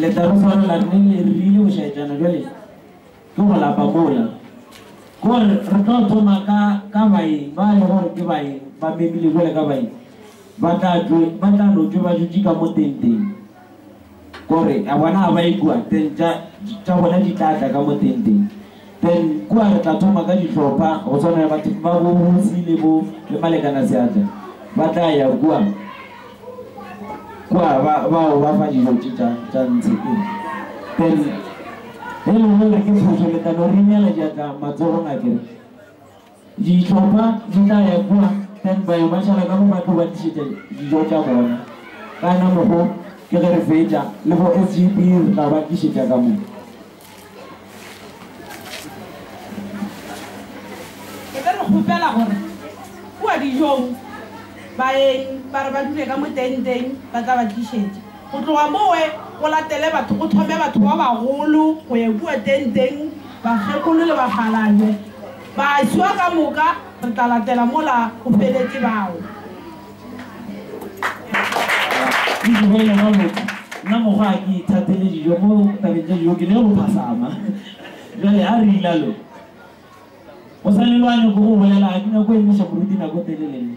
letarutswana la rene le re rile go šaetsana jale ke go lapa mola gore re tlo thoma ka ka baeng ba le gore ke baeng ba memile jale ka baeng ba tla tlo ba tla no tšwe ba dutše ka mo tenteng Gore a bona ga ba ikwa, then tša, tša bona di tla tla ka mo tenteng. Then kua re tla thoma ka dihlopha, go swana le batho ba bo Busi le bo, le Malekana Seatla. Ba tla ya kua, kua ba, ba o ba fa dijo tše tša, tša ntshe. Ee. Then, ge e le gore ke phošo, le tla no re ineela diatla matsogong a kere. Dihlopha di tla ya kua stand by ba šala ka mo ba tlo ba tlišetša dijo tša bona. Ka na mogo ke ge re fetša le bo SGB re tla ba tlišetša ka mo. E be re kgopela gore kua dijong baeng ba re ba dule ka mo tenteng ba tla ba tlišetša. Go tloga mowe go latele batho go thome batho ba bagolo go ya kua tenteng, bakgekolo le bakgalabje. Bašwa ka moka re tla latela mola o feletše bao. Ke tlogele ba loka. Nna mokgwa ga ke ithatele dijo mo tabeng tša dijo ke le go phasama. Bjale a re ila lo. Mosali lo a nyoko go bolela ga ke nyako emiša moruti nako telele nna.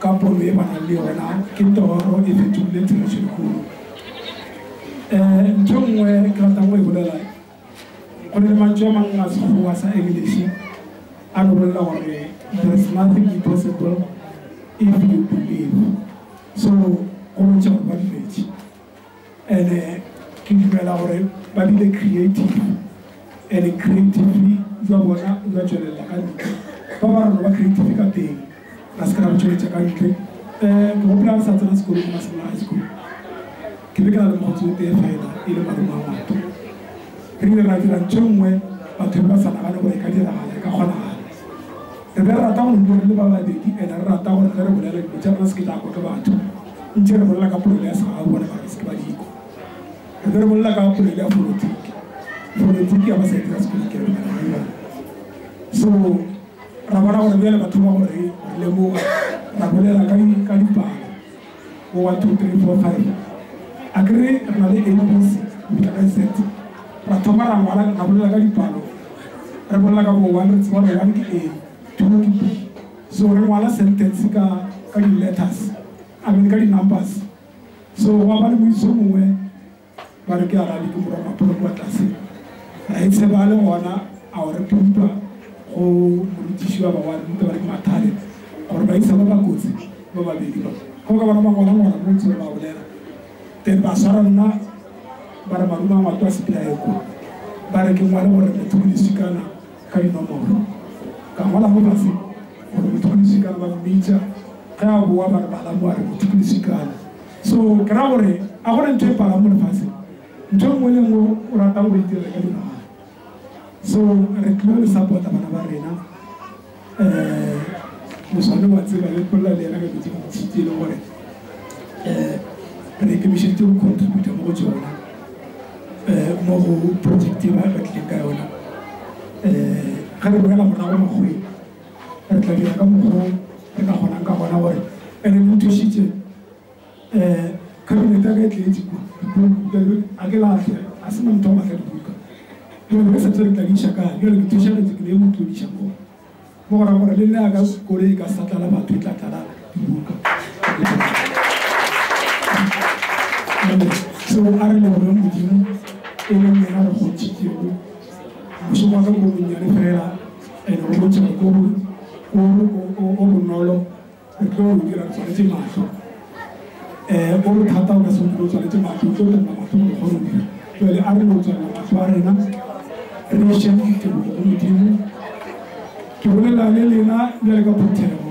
Ka pono ye ba nang le yona, ke toro e fetogile therešo e kgolo. Ntho e nngwe ke ratang go e bolela, go na le mantšu a mangwe a Sekgowa sa Engliše a no bolela gore, There is nothing impossible if you believe. So, go botša gore ba duletše. And-e ke dumela gore ba bile creative, and-e creatively jwa bona jwa tšwelelela ka ntle. Ba ba rona ba creative ka teng, ra se ke ra bo tšweletša ka ntle. Um, ke gopola re sa tsena sekolo ke Masemola High School, ke be ke na le mokgotsi o tee fela e le malome wa Mato. Re ile ra dira ntho e nngwe batho be ba sa nagane gore e ka diragala, e ka kgonagala. Re rata go dula re le ba babedi and re rata gore ge re bolela dilo tša rena se ke tša kwa ke batho. Ntše re bolela ka polelo ya segau gona mara se ke ba di kwa. Re be re bolela ka polelo ya folotiki. Folotiki ya ba sa e dira sekolong ke re mara re yona. So ra bona gore bjale ba thoma go re lemoga ra bolela ka dipalo. Go one two three four five a ke re re na le abc go fitlha ka z ra thoma ra ngwala ra bolela ka dipalo re bolela ka bo one re tseba gore one ke a two ke b so re ngwala sentence ka ka di-letters a mean ka di-numbers so gwa ba le moitso mongwe ba re ke a radi ke morwa mapholo kwa tlase ra e tsheba a le gona a o re pumpa go morutiši ba ba wa ruta ba re ke mathale gore ba isa ba ba kotsi ba babedi ba go ka bona ba gona gona mo ntse ba bolela then ba swara nna ba re maruma ngwato a sepelaeko ba re ke ngwale gore motho ke disikana ka dinomoro ka ngola mo base gore motho ke disikana ba mmitsa ge a boa ba re bala mo a re motho ke disikana So ke ra gore a gona ntho e palang mo lefaseng, ntho engwe le engwe o ratang go e dira ka dinagana. So re tlilo le support-a bana ba rena, um moswane wa tseba le bolela le ena ka dilo tse dintsi tse e leng gore um re ikemišeditse go contributor mo go tsona, um mo go project e ba re tlileng ka yona, um ge re boela morago makgoweng. Re tla dira ka mokgwa o re ka kgonang ka gona gore e re lotošitše. Eh, khabinete ya ka e tletše kua, dipuku, ke a di, a ke lahle, ga se na motho wa go lahla dibuka. Bjale re sa tsebe re tla di iša kae, bjale ke tšhošagetše, ke ne ke mo tlodiša mo, mo go ra gore le nna ya ka koloi e ka sa tlala batho, e tla tlala dibuka. Jwale, seo a re lebogeng Modimo, e leng yena re kgontšhitšego mošomo wa ka ko bonnyane fela, And o botšha ko bo, o, o, o bonolo re tlo o dira re tswaletše mahlo. Eh, o bothata o ka se o dire o tswaletše mahlo, o tlo tella mahlo gore o kgone go dira. Bjale a re no tswalela mahlo a rena, re neše tebogo go Modimo. Ke bolela le lena bjale ka phuthego.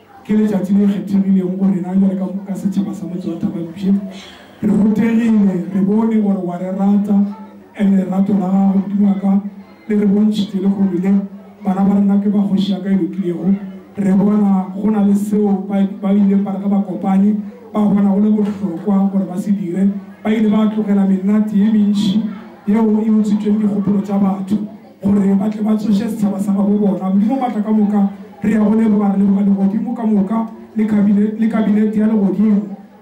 Ke letšatši le kgethegilego go rena bjale ka, ka setšhaba sa motse wa Thaba-Mpshe. Re rutegile, re bone gore wa re rata, and lerato la gago, Modimo wa ka, le re bontšhitše lehono le, bana ba rena ke ba Kgoši ya ka e lokilego. Re bona go na le seo ba, ba ileng ba re ge ba kopane, ba bona go le bohlokwa gore ba se dire. Ba ile ba tlogela menate ye mentši yeo e utswitšweng dikgopolo tša batho. gore ba tle ba tsoše setšhaba sa gabo bona. Modimo Matla ka moka, re ya go leboga, re leboga Legodimo ka moka le kabine, le Kabinete ya Legodimo.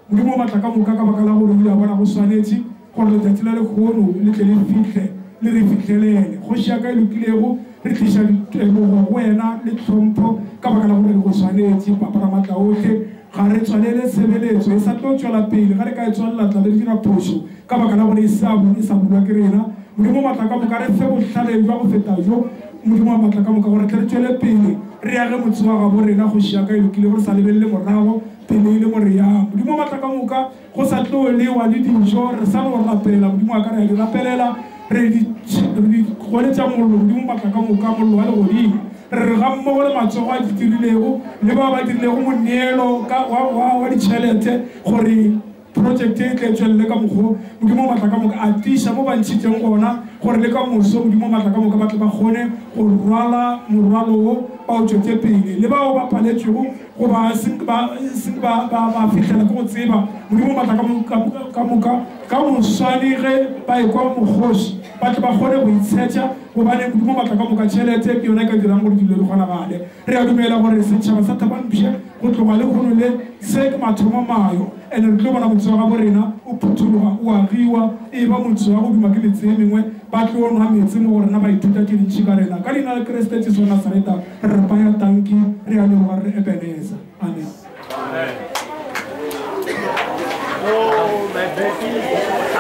Modimo Matla ka moka, ka baka la gore o ile a bona go swanetše gore letšatši la lekgono le tle le fihle, le re fihlelele. Kgoši ya ka e lokilego, re tliša tebogo go Wena le tlhompho, ka baka la gore go swanetše, Papa Ramatlaohle. Ga re tswalele tshebeletso e sa tlo tšwela pele ge re ka e tswalela tla be re dira phošo ka baka la gore e sa bo e sa bulwa ke rena. Modimo wa matla ka moka, re fe bohlale bja go feta bjo, Modimo wa matla ka moka, gore tle re tšwele pele re age motse wa gabo rena, Kgoši ya ka e lokilego, re sa lebelele morago, pele e le mo re yang, Modimo wa matla ka moka. Go sa tlo lewa le dijo, re sa no rapela, Modimo wa ka, re a di rapelela, re di re di goletša mollo, Modimo matla ka moka, mollo wa legodimo. Re re gammogo le matsogo a di dirilego, le bao ba dirilego moneelo ka wa, wa, wa ditšhelete, gore projecte e tle e tšwelele ka mokgo, Modimo matla ka moka, a tiiša mo ba ntšhitšeng gona, gore le ka moso, Modimo matla ka moka, ba tle ba kgone go rwala morwalo wo, ba o tšwetše pele. Le bao ba paletšwego, Goba e seng ba, e seng ba, ba, ba fihlela ke go tseba Modimo o matla ka mo, ka, ka moka, ka moswane ge ba ekwa mokgoši, ba tle ba kgone go itshetša, gobane Modimo o matla ka moka. Tšhelete ke yona e ka dirang gore dilo di kgonagale. Re a dumela gore setšhaba sa Thabampshe go tloga lehono le, se ke mathomo mayo. And re tlo bona motse wa gabo rena o phuthologa, o agiwa, e eba motse wa go duma ke metse ye mengwe. Ba tlo nwa metse mo go rena, ba ithuta tše dintši ka rena. Ka Leina la Kriste Jesu wa Nasareta, re re paya tanki, re a leboga, re re Ebeneza. Amen.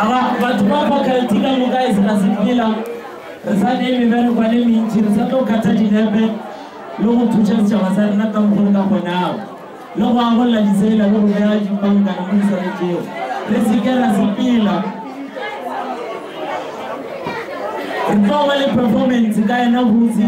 Aba batho ba faculty ka moka e se ga sepela, re sa ne mebereko le mentši, re sa tlo kgatha dinepe le go thuša setšhaba sa rena ka mokgwa re ka kgonago. le go agolla ditsela le go bea dipankana mo di swanetšego, re se ke ra sepela. Re tlo ba le performance ka yena botse.